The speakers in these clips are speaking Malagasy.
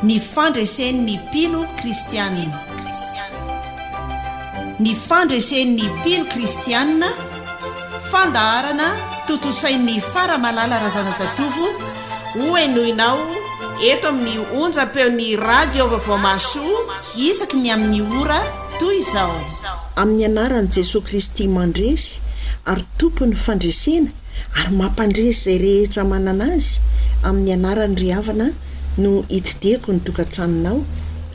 Ny fandresen'ny mpino kristianina. Ny fandresen'ny mpino kristianina, fandaharana tontosain'ny Faramalala Razanajatovo hohenoinao eto amin'ny onjam-peon'ny Radio Vaovao Mahasoa isaky ny amin'ny ora toy izao. Amin'ny anaran'i Jesoa Kristy Mandresy ary Tompon'ny fandresena ary mampandresy izay rehetra manana azy amin'ny anarany ry havana no hitsidihako ny tokantranonao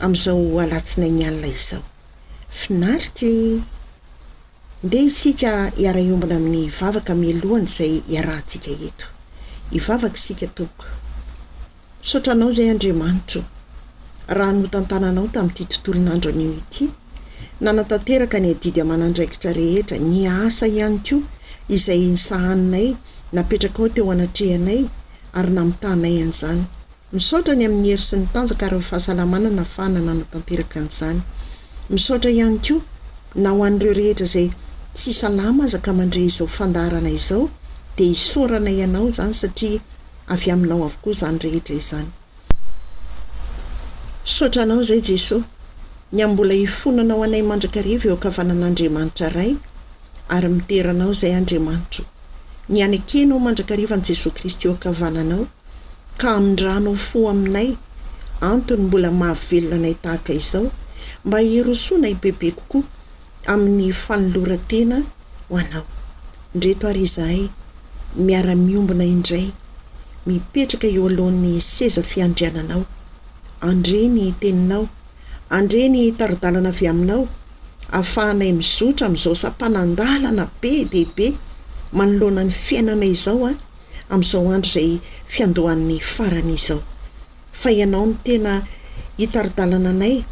amin'izao alatsinainy alina izao. Finaritra e! Ndeha isika hiara-hiombona amin'ny vavaka mialohan'izay iarahantsika eto. Hivavaka isika tompoko. Misaotra Anao izay Andriamanitra o, raha notantananao tamin'ity tontolon'andro anio ity, nanatanteraka ny adidy aman'andraikitra rehetra, ny asa ihany koa izay nisahaninay, napetrakao teo anatrehanay ary namitahanay an'izany. Misaotra ny amin'ny hery sy ny tanjaka ary ny fahasalamana nahafahana nanatanteraka an'izany. Misaotra ihany koa na ho an'ireo rehetra izay tsy salama aza ka mandre izao fandaharana izao dia isaorana Ianao izany satria avy aminao avokoa izany rehetra izany. Misaotra anao izay Jesoa, ny amin'ny mbola ifonanao anay mandrakariva eo ankavanan'Andriamanitra Ray ary midera anao izay Andriamanitra o. Ny hanekenao mandrakariva an'i Jesoa Kristy eo ankavananao ka hamindranao fo aminay antony mbola mahavelona anay tahaka izao mba hirosoanay bebe kokoa amin'ny fanoloran-tena ho Anao. Ndreto ary izahay miara-miombona indray, mipetraka eo alohan'ny seza fiandriananao. Andre ny Teninao. Andre ny tari-dalana avy Aminao, ahafahanay mizotra amin'izao sampanan-dalana be dia be manoloana ny fiainana izao, amin'izao andro izay fiandohan'ny farany izao. fa Ianao no tena hitari-dalana anay,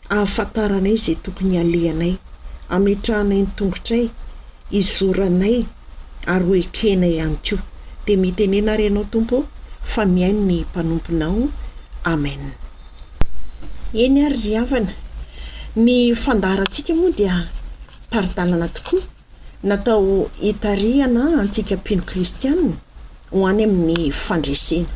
ahafantaranay izay tokony halehanay, hametrahanay ny tongotray, hizoranay ary ho ekenay ihany koa. Dia mitenena ary Ianao, Tompo ô, fa mihaino ny mpanomponao. Amen. Eny ary ry havana, ny fandaharantsika moa dia tari-dalana tokoa. Natao hitarihana antsika mpino kristiana ho any amin'ny fandresena.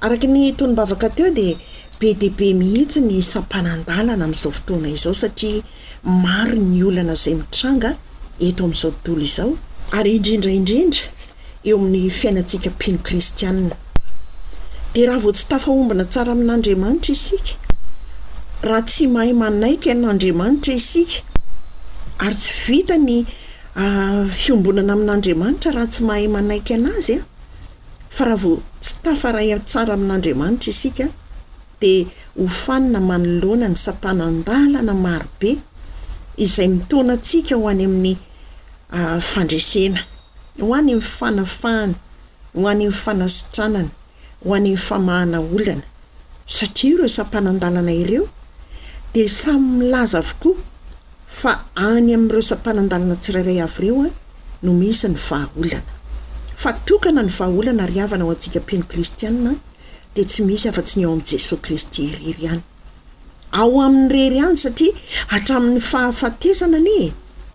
Araka ny tonom-bavaka teo dia be dia be mihitsy ny sampanan-dalana amin'izao fotoana izao satria maro ny olana izay mitranga eto amin'izao tontolo izao, ary indrindra indrindra eo amin'ny fiainantsika mpino kristianina. Dia raha vao tsy tafahombina tsara amin'Andriamanitra isika, raha tsy mahay manaiky an'Andriamanitra isika, ary tsy vita ny fiombonana amin'Andriamanitra raha tsy mahay manaiky an'Azy, fa raha vao tsy tafaray tsara amin'Andriamanitra isika, dia hofanina manoloana ny sampanan-dalana marobe izay mitaona antsika ho any amin'ny fandresena. ho an' ny fanafahana, ho an' ny fanasitranana, ho an' ny famahana olana, satria ireo sampanan-dalana ireo dia samy milaza avokoa fa any amin' ireo sampanan-dalana tsirairay avy ireo no misy ny vahaolana. Fa tokana ny vahaolana ry havana ho antsika mpino kristiana dia tsy misy afa-tsy ny ao amin' i Jesoa Kristy irery ihany. ao aminy irery ihany satria hatramin'ny fahafatesana anie e!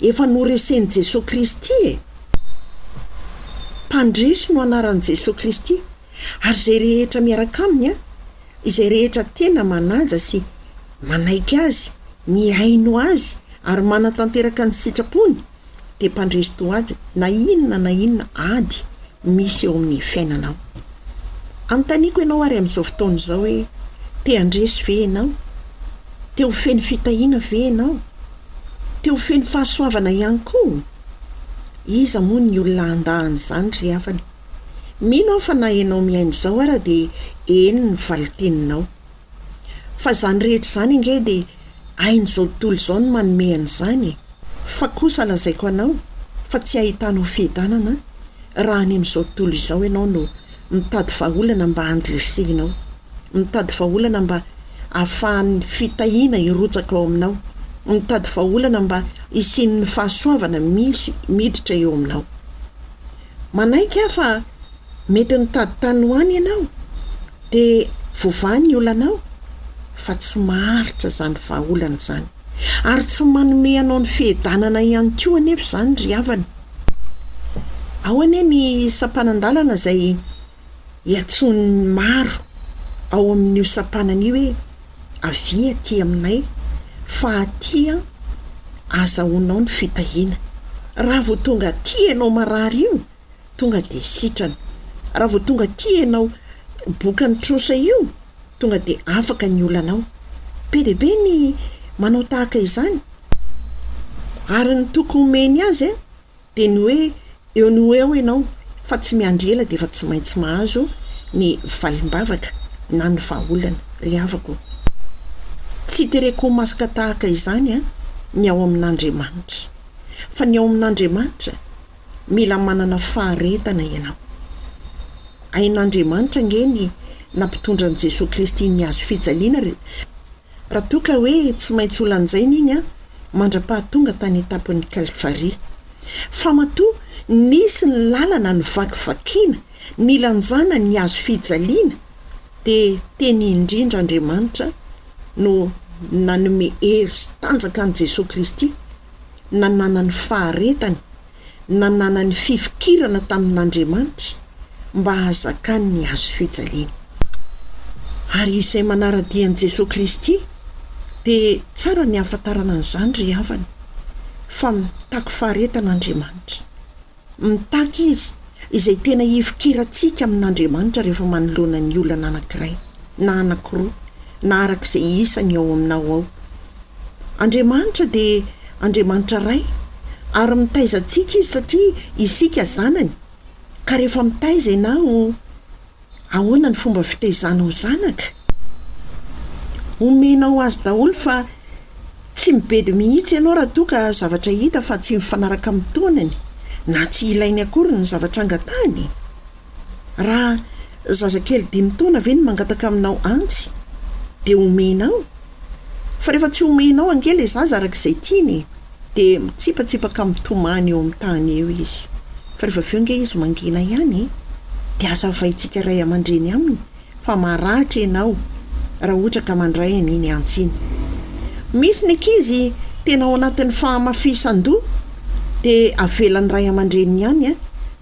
efa noresen'i Jesoa Kristy e! Mpandresy no anaran'i Jesoa Kristy ary izay rehetra miaraka Aminy an! izay rehetra tena manaja sy manaiky Azy, mihaino Azy ary manatanteraka ny sitrapony, dia mpandresy toady na inona na inona ady misy eo amin'ny fiainanao. Anontaniako ianao ary amin'izao fotoana izao hoe, te handresy ve ianao? Te ho feno fitahiana ve ianao? Te ho feno fahasoavana ihany koa? Iza moa ny olona handà an'izany ry havana? Mino aho fa na ianao mihaino izao ara dia eny ny valinteninao. Fa izany rehetra izany ange dia hain'izao tontolo izao ny manome an'izany e! Fa kosa lazaiko anao fa tsy hahitanao fiadanana raha any amin'izao tontolo izao ianao no mitady vahaolana mba handresehinao, mitady vahaolana mba hahafahan'ny fitahiana hirotsaka ao aminao, mitady vahaolana mba hisian'ny fahasoavana misy miditra eo aminao. Manaiky aho fa mety nitady tany ho any ianao. Dia voavaha ny olanao, fa tsy maharitra izany vahaolana izany. Ary tsy manome anao ny fihedanana ihany koa anefa izany ry havana. Ao anie ny sampanan-dalana izay iantsoan'ny maro ao amin'io sampanana io hoe, Avia aty aminay, fa aty azahoanao ny fitahiana. Raha vao tonga aty ianao marary io, tonga de sitrana. Raha vao tonga aty ianao bokan'ny trosa io tonga de afaka ny olanao. Be dia be ny manao tahaka izany. Ary ny toky omeny azy a, de ny hoe eo no ho eo ianao fa tsy miandry ela de efa tsy maintsy mahazo ny valim-bavaka na ny vahaolana. Ry havako o. Tsy itereko ho masaka tahaka izany a, ny ao amin'Andriamanitra. Fa ny ao amin'Andriamanitra mila manana faharetana ianao. Hain'Andriamanitra ange ny nampitondra an'i Jesoa Kristy ny Hazo fijaliana ry Raha toa ka hoe tsy maintsy ho lanjaina iny an, mandra-pahatonga tany tapon'ny Kalfaria. Fa matoa nisy ny lalana novakivakiana nilanjana ny Hazo fijaliana dia teny indrindra Andriamanitra no nanome hery sy tanjaka an'i Jesoa Kristy, nananany faharetany, nananany fifikirana tamin'Andriamanitra mba hahazakany ny hazo fijaliana. Ary izay manara-dia an'i Jesoa Kristy dia tsara ny hahafantarana an'izany ry havana, fa mitaky faharetana Andriamanitra. Mitaky izy izay tena hifikirantsika amin'Andriamanitra rehefa manoloana ny olana anankiray na anankiroa na araka izay isany ao aminao ao. Andriamanitra dia Andriamanitra Ray ary mitaiza antsika Izy satria isika zanany ka rehefa mitaiza ianao, Ahoana ny fomba fitezanao zanaka? Omenao azy daholo fa tsy mibedy mihitsy ianao raha toa ka zavatra hita fa tsy mifanaraka amin'ny taonany na tsy ilainy akory ny zavatra angatahiny e! Raha zazakely dimy taona ve no mangataka aminao antsy dia omenao fa rehefa tsy omenao ange ilay zaza araka izay tiany e! Dia mitsipatsipaka mitomany eo amin'ny tany eo izy. Fa rehefa avy eo ange izy mangina ihany e! Dia aza avaintsika ray aman-dreny aminy fa maratra ianao raha ohatra ka mandray an'iny antsy iny. Misy ny ankizy tena ao anatin'ny fahamafisan-doha dia avelan'ny ray aman-dreniny ihany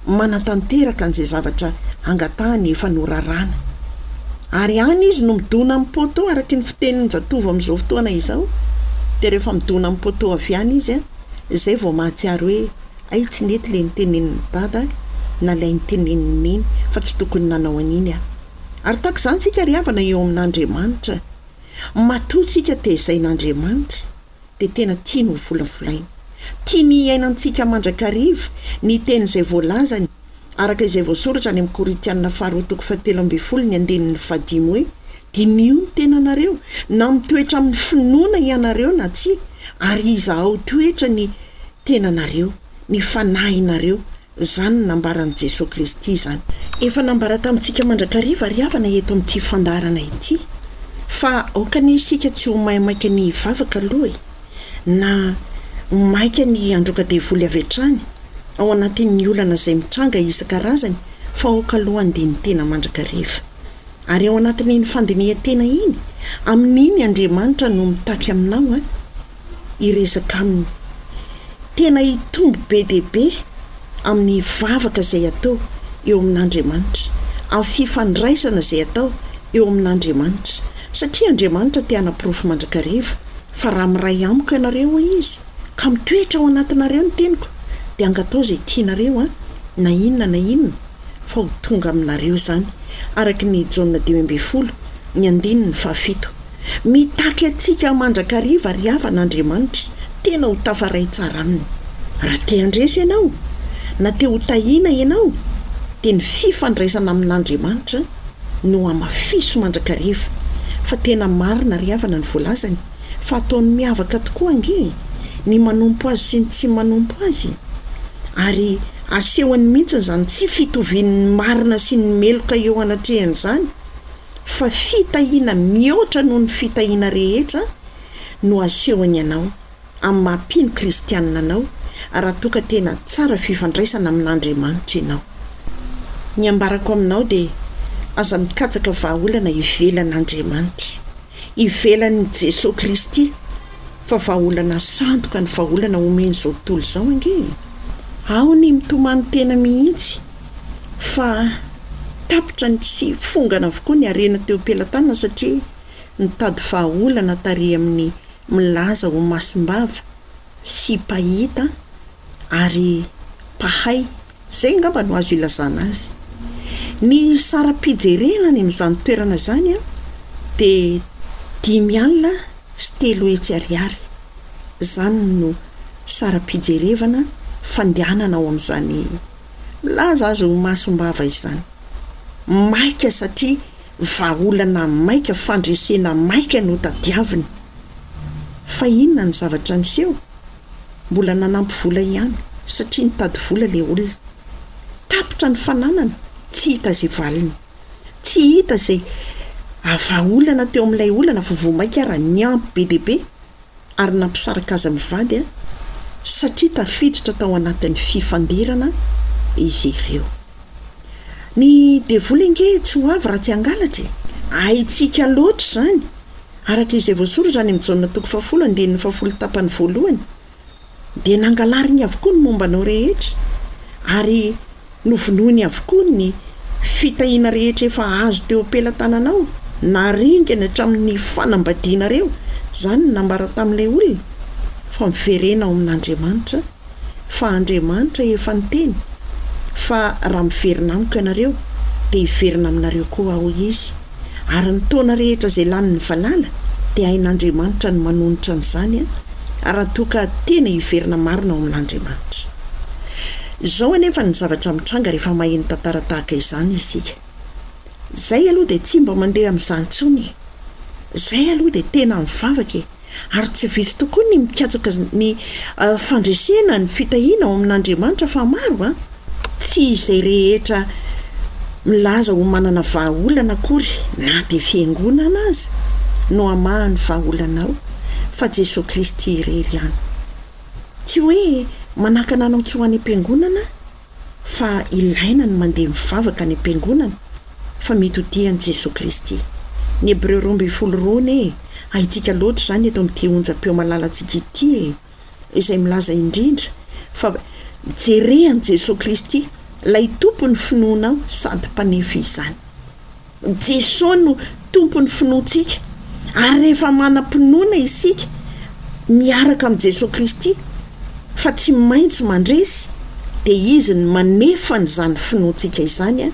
manatanteraka an'izay zavatra angatahany efa noraràna. Ary any izy no midona amin'ny poteau araka ny fitenin-jatovo amin'izao fotoana izao. Dia rehefa midona amin'ny poteau avy any izy an, izay vao mahatsiaro hoe hay tsy nety ilay nitenenin'i Dada na ilay nitenenin'i Neny fa tsy tokony nanao an'iny aho. Ary tahaka izany isika ry havana eo amin'Andriamanitra. Matoa isika tezain'Andriamanitra. dia tena tiany ho volavolaina. Tiany hiaina antsika mandrakariva ny teny izay voalazany, araka izay voasoratra any amin'ny Korintianina faharoa toko fahatelo ambin'ny folo ny andininy fahadimy hoe, Diniho ny tenanareo, na mitoetra amin'ny finoana ianareo na tsia, ary izahao toetra ny tenanareo, ny fanahinareo, Izany no nambaran'i Jesoa Kristy izany. Efa nambara tamintsika mandrakariva ary havana eto amin'ity fandaharana ity fa aoka anie isika tsy ho maimaika ny hivavaka aloha e! na ho maika ny handroaka devoly avy hatrany ao anatin'ny olana izay mitranga isan-karazany fa aoka aloha handeha ny tena mandrakariva. Ary ao anatin'iny fandinihantena iny, amin'iny Andriamanitra no mitaky aminao an! hiresaka aminy. Tena hitombo be dia be amin'ny vavaka izay atao eo amin'Andriamanitra, amin'ny fifandraisana izay atao eo amin'Andriamanitra, satria Andriamanitra te hanaporofo mandrakariva fa raha miray amiko ianareo, hoy Izy, ka mitoetra ao anatinareo ny teniko, dia hangatao izay tianareo Ahy, na inona na inona, fa ho tonga aminareo izany, araka ny Jaona dimy ambin'ny folo, ny andininy fahafito. Mitaky antsika mandrakariva ry havana Andriamanitra tena ho tafaray tsara aminy. Raha te handresy ianao, na te ho tahiana ianao, dia ny fifandraisana amin'Andriamanitra no hamafiso mandrakariva. Fa tena marina ry havana ny voalazany fa ataony miavaka tokoa ange ny manompo Azy sy ny tsy manompo Azy. Ary asehony mihitsy izany tsy fitovian'ny marina sy ny meloka eo anatrehany izany. fa fitahiana mihoatra noho ny fitahiana rehetra no asehony anao amin'ny maha mpino kristianina anao raha toa ka tena tsara fifandraisana amin'Andriamanitra ianao. Ny ambarako aminao dia aza mikatsaka vahaolana ivelan'Andriamanitra, ivelan'i Jesoa Kristy fa vahaolana sandoka ny vahaolana omen'izao tontolo izao ange e! Ao ny mitomany tena mihitsy. fa tapitra ny tsy fongana avokoa ny harena teo am-pelatanana satria nitady vahaolana tarehy amin'ny milaza ho masim-bava sy mpahita ary mpahay, izay angamba no azo ilazana azy. Ny saram-pijerena any amin'izany toerana izany dia dimy alina sy telo hetsy ariary, izany no saram-pijerevana fandehanana ao amin'izany Milaza azy ho masom-bava izany. Maika satria vahaolana maika, fandresena maika no tadiaviny. Fa inona ny zavatra niseho? Mbola nanampy vola ihany, satria nitady vola ilay olona. Tapitra ny fananany, tsy hita izay valiny. Tsy hita izay vahaolana teo amin'ilay olana fa vao maika ary niampy be dia be. ary nampisaraka azy mivady satria tafiditra tao anatin'ny fifandirana izy ireo. Ny devoly ange tsy ho avy raha tsy hangalatra e! Haintsika loatra izany, araka izay voasoratra any amin'ny Jaona toko fahafolo, andininy fahafolo tapany voalohany. dia nangalariny avokoa ny momba anao rehetra, ary novonoiny avokoa ny fitahiana rehetra efa azo teo am-pelatananao, naringany hatramin'ny fanambadianareo izany ny nambara tamin'ilay olona, fa miverena ao amin'Andriamanitra, fa Andriamanitra efa niteny fa raha miverina amiko ianareo, dia hiverina aminareo koa aho Izy. Ary ny taona rehetra izay lanin'ny valala dia hain'Andriamanitra ny manonitra an'izany raha toa ka tena hiverina marina ao amin'Andriamanitra. Izao anefa ny zavatra mitranga rehefa maheno tantara tahaka izany isika. Izay aloha dia tsy mba mandeha amin'izany intsony e! Izay aloha dia tena mivavaka e! ary tsy vitsy tokoa ny mikatsaka ny fandresena ny fitahiana ao amin'Andriamanitra fa maro an! tsy izay rehetra milaza ho manana vahaolana akory na dia fiangonana aza no hamaha ny vahaolanao fa Jesoa Kristy irery ihany tsy hoe manakana anao tsy ho any am-piangonana fa ilaina ny mandeha mivavaka any am-piangonana fa mety ho tia an'i Jesoa Kristy. Ny Hebreo roa ambin'ny folo roa anie haintsika loatra izany eto amin'ity onjam-peo malalantsika ity e! izay milaza indrindra fa jere an'i Jesoa Kristy ilay Tompon'ny finoanao sady Mpanefy izany. Jesoa no Tompon'ny finoantsika, ary rehefa manam-pinoana isika miaraka amin'i Jesoa Kristy fa tsy maintsy mandresy, dia Izy no manefa an'izany finoantsika izany,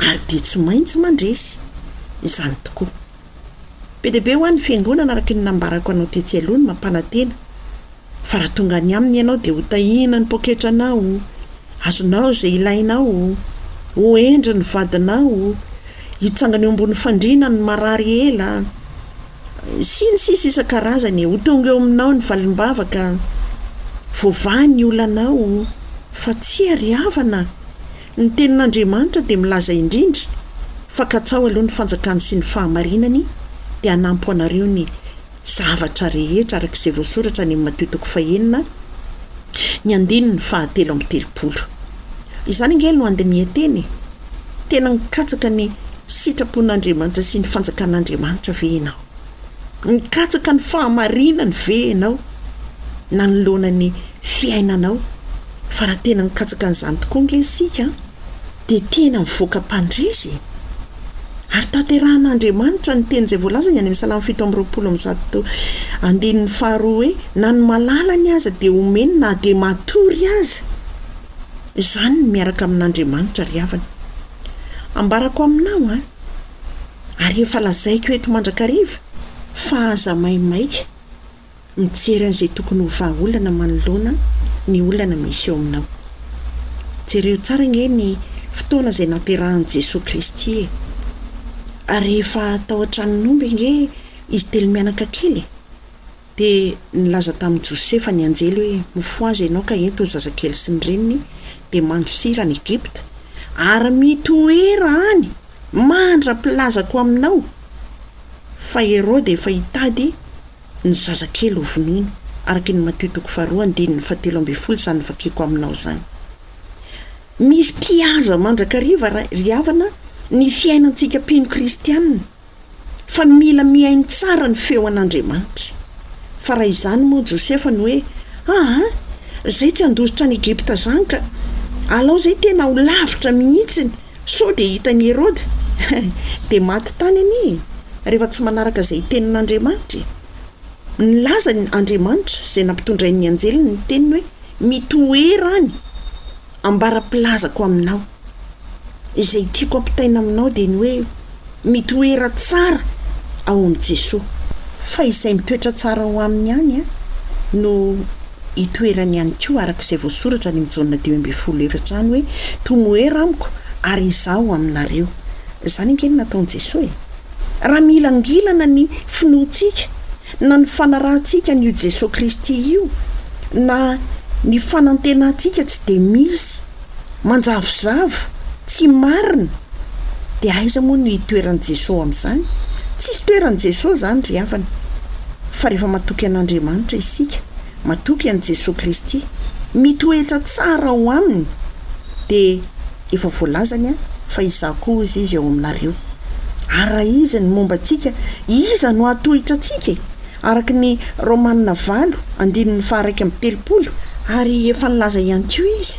ary dia tsy maintsy mandresy. Izany tokoa. Be dia be ho an'ny Fiangonana araka ny nambarako anao tetsy aloha ny mampanantena. Fa raha tonga any Aminy ianao, dia hotahina ny poketranao, azonao izay ilainao, ho hendry ny vadinao, hitsangana eo ambony fandriana ny marary ela, sy ny sisa isan-karazany e. Ho tonga eo aminao ny valim-bavaka, voavaha ny olanao, fa tsy ary havana. Ny Tenin'Andriamanitra dia milaza indrindra fa katsaho aloha ny fanjakany sy ny fahamarinany, dia hanampo anareo ny zavatra rehetra araka izay voasoratra any amin'ny Matio toko fahenina, ny andininy fahatelo amby telopolo. Izany ange no andinihan-teny e! Tena mikatsaka ny sitrapon'Andriamanitra sy ny fanjakan'Andriamanitra ve ianao? Mikatsaka ny fahamarinany ve ianao nanoloana ny fiainanao? Fa raha tena mikatsaka an'izany tokoa ange isika an! dia tena mivoaka mpandresy e! Ary tanterahan'Andriamanitra ny teny izay voalazany any amin'ny Salamo fito amby roapolo amby zato andininy faharoa hoe, Na ny malalany aza dia homeny na dia matory aza. Izany ny miaraka amin'Andriamanitra ry havana. Ambarako aminao an! Ary efa lazaiko eto mandrakariva fa aza maimaika. Mijery an'izay tokony ho vahaolana manoloana ny olana misy eo aminao. Jereo tsara ange ny fotoana izay nahaterahan'i Jesoa Kristy e! Ary rehefa tao an-tranon'omby ange izy telo mianaka kely e! Dia nilaza tamin'i Josefa ny anjely hoe, Mifohaza ianao ka ento ny zazakely sy ny reniny, dia mandosira any Egypta, ary mitoera any mandra-pilazako aminao. fa Heroda efa hitady ny zazakely hovonoiny, araka ny Matio toko faharoa andininy fahatelo ambin'ny folo izany vakiko aminao izany. Misy mpihaza mandrakariva ry havana ny fiainantsika mpino kristianina, fa mila mihaino tsara ny feo an'Andriamanitra. Fa raha izany moa Josefa no hoe, aa, izay tsy handositra any Egypta izany ka, alao izay tena ho lavitra mihitsiny, Sao dia hitan'i Heroda dia maty tany anie e! rehefa tsy manaraka izay tenin'Andriamanitra e! Nilaza ny Andriamanitra izay nampitondrain'ny anjeliny ny teniny hoe, Mitoera any, ambara-pilazako aminao. Izay tiako ampitaina aminao dia ny hoe, Mitoera tsara ao amin'i Jesoa, fa izay mitoetra tsara ao Aminy ihany no hitoerany ihany koa, araka izay voasoratra any amin'i Jaona dimy ambin'ny folo efatra any hoe, Tomoera amiko ary Izaho aminareo. Izany ange no nataon'i Jesoa e! Raha milangilana ny finoantsika na ny fanarahantsika an'io Jesoa Kristy io na ny fanantenantsika tsy dia misy, manjavozavo, tsy marina, dia aiza moa no hitoeran'i Jesoa amin'izany? Tsisy toeran'i Jesoa izany ry havana, fa rehefa matoky an'Andriamanitra isika, matoky an'i Jesoa Kristy, mitoetra tsara ao Aminy, dia efa voalazany fa Izaho koa hozy Izy ao aminareo. Ary raha Izy no momba antsika, iza no hahatohitra antsika e? araka ny Romana valo andininy faha-iraika amby telopolo, ary efa nilaza ihany koa izy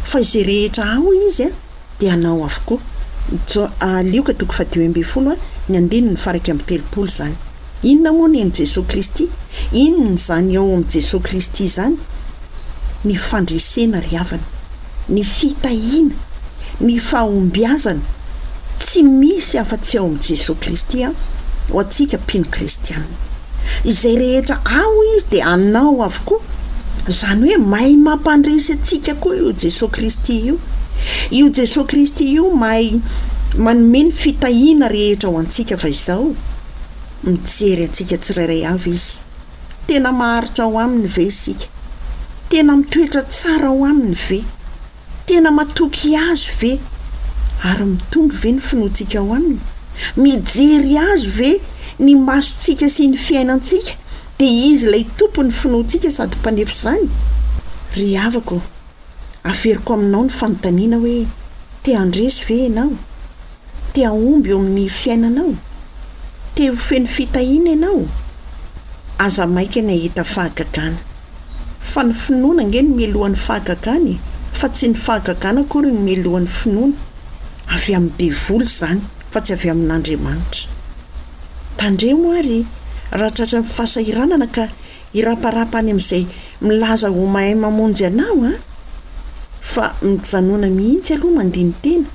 fa izay rehetra ao izy dia anao avokoa, J, Lioka toko faha-dimy ambin'ny folo ny andininy faha-iraika amby telopolo izany. Inona moa ny an'i Jesoa Kristy? Inona izany ao amin'i Jesoa Kristy izany ny fandresena ry havana? ny fitahiana, ny fahombiazana, tsy misy afa-tsy ao amin'i Jesoa Kristy an, ho antsika mpino kristianina. Izay rehetra ao Izy dia anao avokoa. Izany hoe mahay mampandresy antsika koa io Jesoa Kristy io. Io Jesoa Kristy io mahay manome ny fitahiana rehetra ho antsika fa izao, mijery antsika tsirairay avy Izy. Tena maharitra ao Aminy ve isika? Tena mitoetra tsara ao Aminy ve? Tena matoky Azy ve? Ary mitombo ve ny finoantsika ao Aminy? Mijery Azy ve ny masontsika sy ny fiainantsika, dia Izy ilay Tompon'ny finoantsika sady Mpanefy izany? Ry havako ô, averiko aminao ny fanontaniana hoe, Te-handresy ve ianao? Te hahomby eo amin'ny fiainanao? Te ho feno fitahiana ianao? Aza maika ny hahita fahagagana. Fa ny finoana ange no melohan'ny fahagagana e! Fa tsy ny fahagagana akory no melohan'ny finoana. Avy amin'ny devoly izany fa tsy avy amin'Andriamanitra. Tandremo ary raha tratran'ny fahasahiranana ka hiraparapa any amin'izay milaza ho mahay mamonjy anao an! Fa mijanona mihitsy aloha mandini-tena.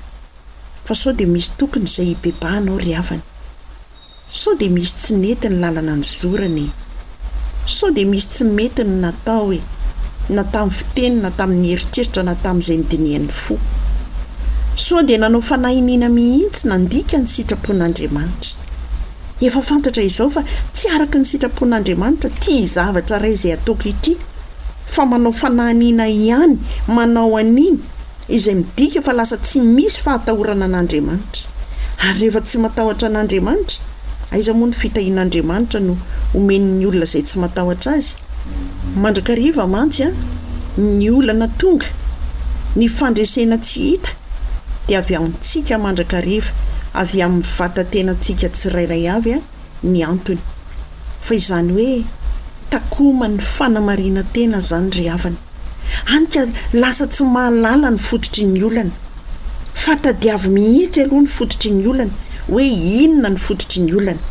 fa sao dia misy tokony izay hibebahana ao ry havana e! Sao dia misy tsy nety ny lalana nizorana e! Sao dia misy tsy mety ny natao e! Na tamin'ny fiteny na tamin'ny eritreritra na tamin'izay nidinihan'ny fo. Sao dia nanao fanahy iniana mihitsy nandika ny sitrapon'Andriamanitra. Efa fantatra izao fa tsy araka ny sitrapon'Andriamanitra ity zavatra iray izay ataoko ity fa manao fanahy iniana ihany manao an'iny izay midika fa lasa tsy misy fahatahorana an'Andriamanitra. Ary rehefa tsy matahotra an'Andriamanitra, aiza moa ny fitahian'Andriamanitra no omeny ny olona izay tsy matahotra Azy? Mandrakariva mantsy ny olana tonga, ny fandresena tsy hita dia avy amintsika mandrakariva, avy amin'ny vatan-tenantsika tsirairay avy ny antony. Fa izany hoe takoman'ny fanamarinan-tena izany ry havana. Hany ka lasa tsy mahalala ny fototry ny olana. Fa tadiavo mihitsy aloha ny fototry ny olana, hoe inona ny fototry ny olana.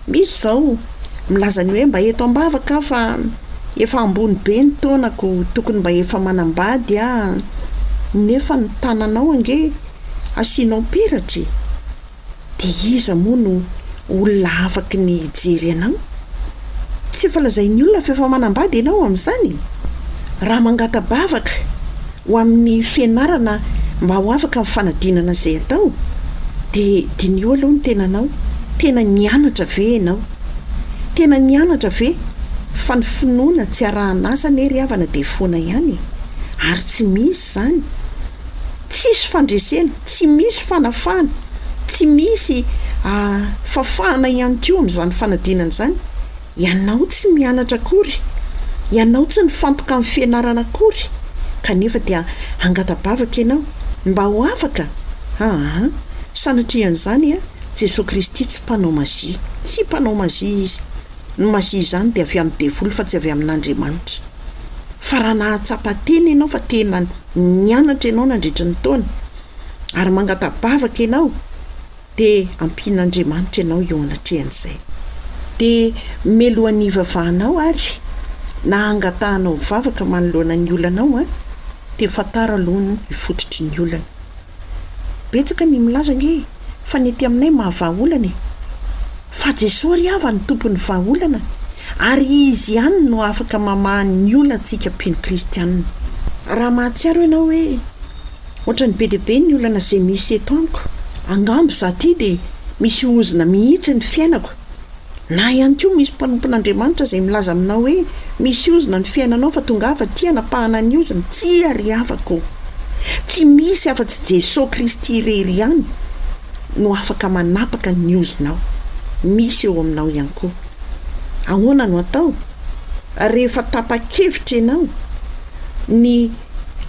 Misy izao milaza ny hoe mba eto am-bavaka aho fa efa ambony be ny taonako, tokony mba efa manambady aho, nefa ny tananao ange asianao peratra e! Dia iza moa no olona afaky ny hijery anao? Tsy efa lazain'ny olona fa efa manambady ianao amin'izany? Raha mangata-bavaka ho amin'ny fianarana mba ho afaka amin'ny fanadinana izay atao, dia diniho aloha ny tenanao, tena nianatra ve ianao? Tena nianatra ve? Fa ny finoana tsy arahan'asa anie ry havana dia foana ihany e! Ary tsy misy izany! Tsisy fandresena, tsy misy fanafahana, tsy misy fafahana ihany koa amin'izany fanadinana izany. Ianao tsy mianatra akory, ianao tsy nifantoka amin'ny fianarana akory kanefa dia hangata-bavaka ianao mba ho afaka? Aa! Sanatrian'izany an, Jesoa Kristy tsy mpanao mazia, tsy mpanao mazia Izy. Ny mazia izany dia avy amin'ny devoly fa tsy avy amin'Andriamanitra. Fa raha nahatsapa tena ianao fa tena nianatra ianao nandritra ny taona, ary mangata-bavaka ianao, dia ampian'Andriamanitra ianao eo anatrehan'izay. Dia melohan'ny hivavahanao ary na hangatahanao vavaka manoloana ny olanao an, dia fantaro aloha ny fototry ny olana. Betsaka ny milaza ange fa ny ety aminay maha vaha olana e! Fa Jesoa ry havany tompon'ny vaha olana ary Izy ihany no afaka mamaha ny olantsika mpino kristianina. Raha mahatsiaro ianao hoe ohatran'ny be dia be ny olana izay misy eto amiko, angamba izaho ity dia misy ozona mihitsy ny fiainako, Na ihany koa misy mpanompon'Andriamanitra izay milaza aminao hoe, Misy ozona ny fiainanao fa tongava aty hanapahana ny ozona. Tsia ry havako ô! Tsy misy afa-tsy Jesoa Kristy irery ihany no afaka manapaka ny ozonao. Misy eo aminao ihany koa. Ahoana no atao rehefa tapa-kevitra ianao ny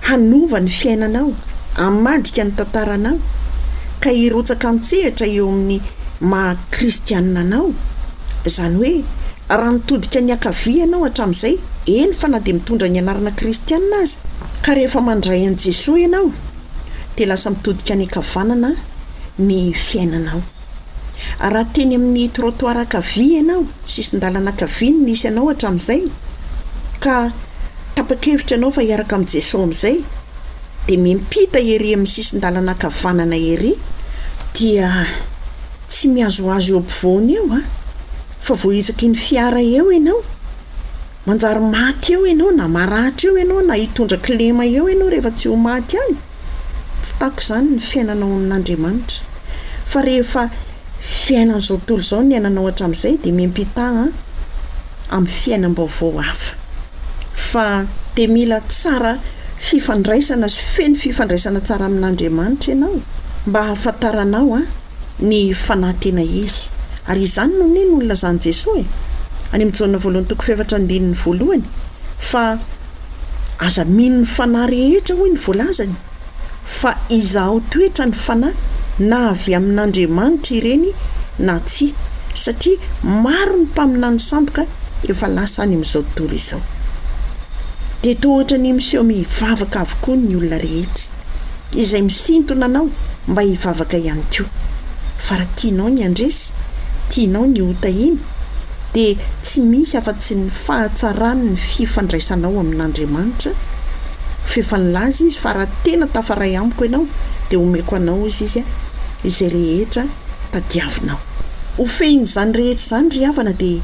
hanova ny fiainanao, hamadika ny tantaranao, ka hirotsaka an-tsehatra eo amin'ny maha Kristianina anao. Izany hoe, raha nitodika niankavia ianao hatramin'izay, eny fa na dia mitondra ny anarana Kristianina aza, ka rehefa mandray an'i Jesoa ianao, dia lasa mitodika any an-kavanana ny fiainanao. Raha teny amin'ny trottoir ankavia ianao, sisin-dalana ankavia no nisy anao hatramin'izay, ka tapa-kevitra ianao fa hiaraka amin'i Jesoa amin'izay, dia miampita ery amin'ny sisin-dalana ankavanana ery, dia tsy mihazohazo eo ampovoany eo an! Fa voahitsaky ny fiara eo ianao, manjary maty eo ianao, na maratra eo ianao, na hitondra kilema eo ianao rehefa tsy ho maty any. Tsy tako izany ny fiainanao amin'Andriamanitra. Fa rehefa fiainan'izao tontolo izao ny iainanao hatramin'izay dia miampita an amin'ny fiainam-baovao hafa. Fa dia mila tsara fifandraisana sy feno fifandraisana tsara amin'Andriamanitra ianao mba hahafantaranao an. ny fanahy tena izy. Ary izany no nino ho nilazan'i Jesoa e! any amin'ny Jaona voalohany toko fahefatra andininy voalohany, fa Aza mino ny fanahy rehetra hoy ny voalazany, fa izaho toetra ny fanahy na avy amin'Andriamanitra ireny na tsia, satria maro ny mpaminany sandoka efa lasa any amin'izao tontolo izao. Dia toa ohatran'ny miseho mivavaka avokoa ny olona rehetra. izay misintona anao mba hivavaka ihany koa. Fa raha tianao ny handresy, tianao ny hotahina, dia tsy misy afa-tsy ny fahatsarany ny fifandraisanao amin'Andriamanitra, fa efa nilaza Izy fa raha tena tafaray amiko ianao, dia homeko anao, hozy Izy, izay rehetra tadiavinao. Ho fehin'izany rehetra izany ry havana dia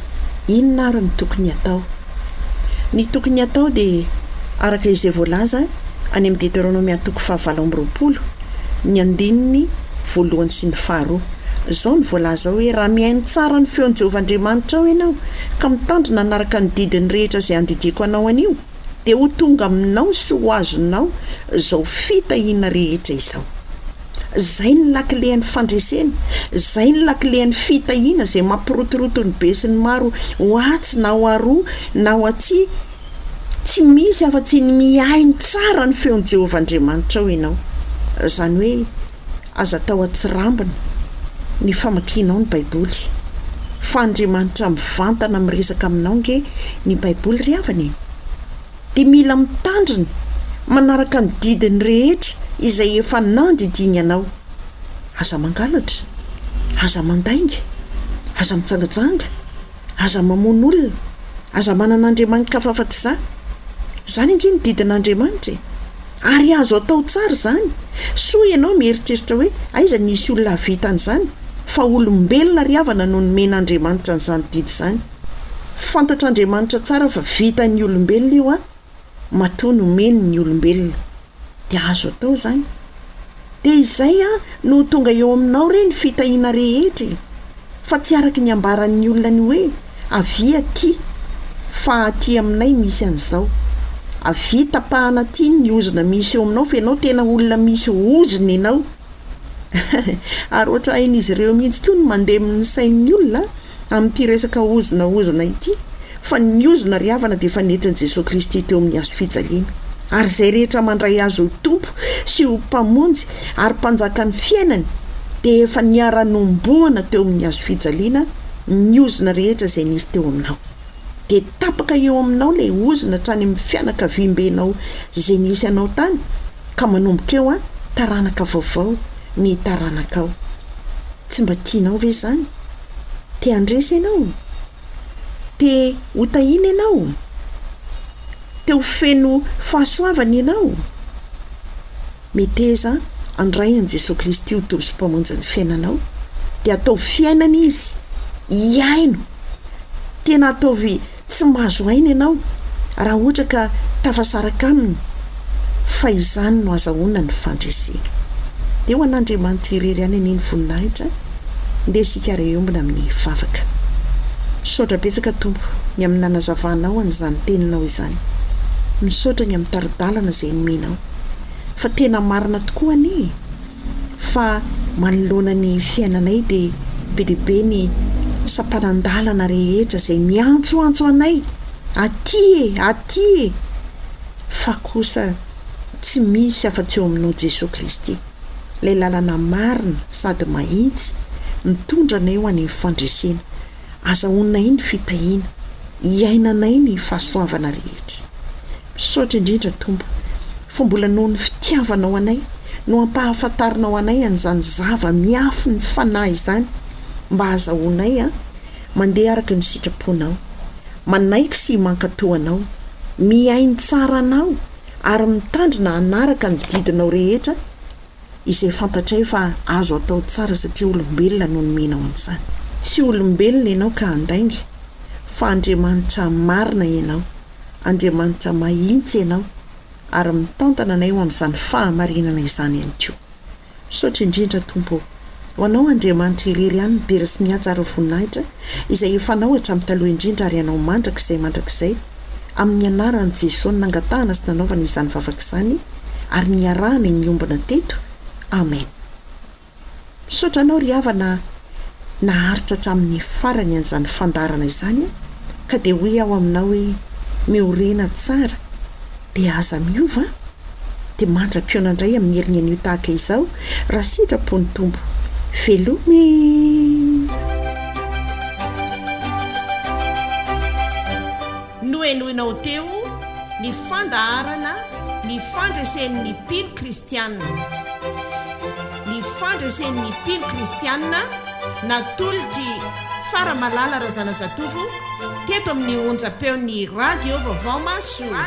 inona ary no tokony hatao? Ny tokony hatao dia araka izay voalaza any amin'ny Deteronomia toko fahavalo amby roapolo, ny andininy voalohany sy ny faharoa. Izao no voalaza ao hoe, Raha mihaino tsara ny feon'i Jehovah Andriamanitrao ianao, ka mitandrina hanaraka ny didiny rehetra izay andidiako anao anio, dia ho tonga aminao sy ho azonao izao fitahiana rehetra izao. Zay ny lakilen'ny fandresena, zay ny lakilen'ny fitahiana izay mampirotoroto ny besinimaro ho atsy na ho aroa na ho atsy, tsy misy afa-tsy ny mihaino tsara ny feon'i Jehovah Andriamanitrao ianao. Izany hoe aza atao an-tsirambina ny famakianao ny Baiboly. Fa Andriamanitra mivantana miresaka aminao ange ny Baiboly ry havana e! dia mila mitandrina manaraka ny didiny rehetra izay efa nandidiany anao. Aza mangalatra, aza mandainga, aza mijangajanga, aza mamono olona, aza manana andriamani-kafafatizà. Izany ange ny didin'Andriamanitra e! Ary azo atao tsara izany, soa ianao mieritreritra hoe aiza ny hisy olona hahavita an'izany, fa olombelona ry havana no nomen'Andriamanitra an'izany didy izany. Fantatr'Andriamanitra tsara fa vitan'ny olombelona io an, matoa nomeny ny olombelona. Dia azo atao izany. Dia izay an, no ho tonga eo aminao re ny fitahiana rehetra e. Fa tsy araka ny ambaran'ny olona ny hoe, avia aty, fa aty aminay misy an'izao. Avia tapahana aty ny ozona misy eo aminao fa ianao tena olona misy ozona ianao. Ary ohatra hain'izy ireo mihitsy koa ny mandemy ny sain'ny olona an. amin'ity resaka ozona ozona ity fa ny ozona ry havana dia efa nentin'i Jesoa Kristy teo amin'ny hazo fijaliana ary izay rehetra mandray Azy ho Tompo sy ho Mpamonjy ary Mpanjakan'ny fiainany dia efa niara-nomboana teo amin'ny hazo fijaliana ny ozona rehetra izay nisy teo aminao. dia tapaka eo aminao ilay ozona hatrany amin'ny fianakaviambenao izay nisy anao tany ka manomboka eo an, taranaka vaovao ny taranakao. Tsy mba tianao ve izany? Te handresy ianao? Te ho tahiana ianao? Te ho feno fahasoavana ianao? Meteza handray an'i Jesoa Kristy ho Tompo sy Mpamonjin'ny fiainanao, dia ataovy fiainana Izy, hiaino. Tena ataovy tsy mahazo aina ianao raha ohatra ka tafasaraka Aminy, fa izany no azahoana ny fandresena. Dia ho an'Andriamanitra irery ihany anie ny voninahitra, ndeha isika ary hiombona amin'ny vavaka. Misaotra betsaka Tompo ny amin'ny nanazavanao an'izany Teninao izany. Misaotra ny amin'ny tari-dalana izay nomenao. fa tena marina tokoa anie e! fa manoloana ny fiainanay dia be dia be ny sampanan-dalana rehetra izay miantsoantso anay aty e! aty e! fa kosa tsy misy afa-tsy eo aminao Jesoa Kristy, ilay lalana marina sady mahitsy mitondra anay ho any amin'ny fandresena. Azahoanay ny fitahiana, iainanay ny fahasoavana rehetra. Misaotra indrindra Tompo fa mbola noho ny fitiavanao anay no hampahafantarinao anay an'izany zava miafy ny fanahy izany mba hahazahoanay mandeha araka ny sitraponao, manaiky sy mankato anao, mihaino tsara anao ary mitandrina hanaraka ny didinao rehetra izay fantatray fa azo atao tsara satria olombelona no nomenao an'izany. Tsy olombelona ianao ka handainga, fa Andriamanitra marina ianao, Andriamanitra mahintsy ianao, ary mitantana anay ho amin'izany fahamarinana izany ihany koa. Misaotra indrindra Tompo ô! Ho Anao Andriamanitra irery ihany ny dera sy ny haja ary ny voninahitra, izay efa Anao hatramin'ny taloha indrindra ary Anao mandrakizay mandrakizay, amin'ny anaran'i Jesoa no nangatahana sy nanaovana izany vavaka izany ary niarahana i Miombona teto. Amen. Misaotra anao ry havana naharitra hatramin'ny farany an'izany fandaharana izany ka dia hoy aho aminao hoe miorena tsara. Dia aza miova an! Dia mandra-pihaona indray amin'ny herin'ny anio tahaka izao raha sitrapo ny Tompo. Veloma e! Nohenoinao teo ny fandaharana Ny Fandresen'ny Mpino Kristianina. Ny Fandresen'ny Mpino Kristianina natolotr'i. Fa Ramalala Razanajatovo teto amin'ny onjam-peon'ny Radio Vaovao Mahasoa.